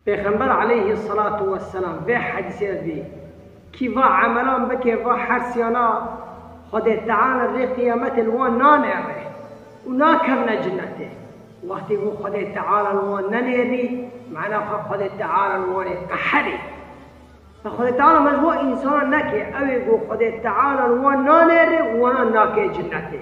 Pêxember aleyhî selatu weselam vê hedîsê de dî, Kî va emelan bike va hersiyana Xwedê Teala rê qiyametê li wan nanêre û nakevne cinetê. Wextê ku Xwedê Teala li wan nenêrî mena xwe Xwedê Teala li wan ê qeherî. Te Xwedê Teala me ji bo însanan neke, ew ê ku Xwedê Teala li wan nanêre û wan nakê cinetê.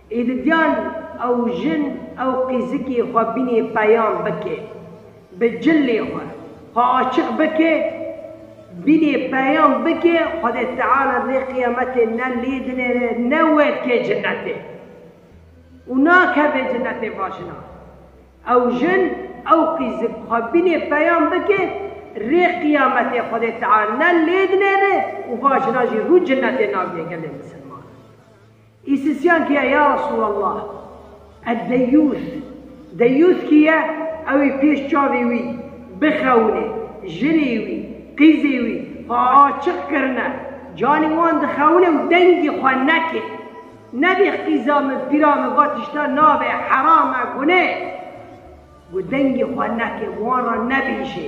Êdidiyan ew jin ew qîzikê xwe bînê peyam bike bi cilê xwe xwe açiq bike bînê peyam bike Xwedê Teala lê qiyametê ne lê dinêre ne weke cinetê û nakeve cinetê va jinan ew jin ew qîzik xwe bînê peyam bike rê qiyametê Xwedê Teala ne lê dinêre û va jinan jî rû cinetê nabîne gelê misilmanan. Îsisyan kî ye ya Resûlallah? Eddeyûs, Deyûs kî ye? Ew ê pêş çavê wî bixewinê, jinê wî, qîzê wî xwe açiq kirine, canê wan dixewine û dengê xwe neke. Nebê qîza min, pîra min va tişta nabe, heram e, guneh e. Got dengê xwe neke, wan re nebêje.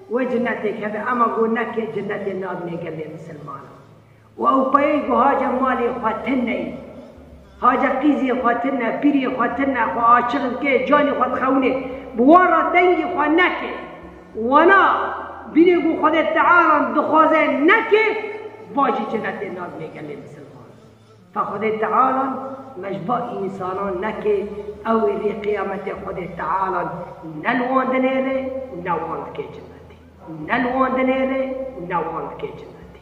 Wê cinetêk hebe ema got ne kê cinetê nabîne gelê misilmanan. Û ew peyê got hace malê xwe ti neyê. Hace qîzê xwe ti ne, pîrê xwe ti ne, xwe açiq bike, canê xwe dixewinê. Bi wan re dengê xwe neke. Wana, bîne got Xwedê Tealan dixwaze ne kê, va jî cinetê nabîne gelê misilmanan. Ta Xwedê Teala me ji bo însanan neke, ew ê rê qîyametê Xwedê Teala ne li wan dinêre û ne wan dike cennetê, ne li wan dinêre û ne wan dike cennetê.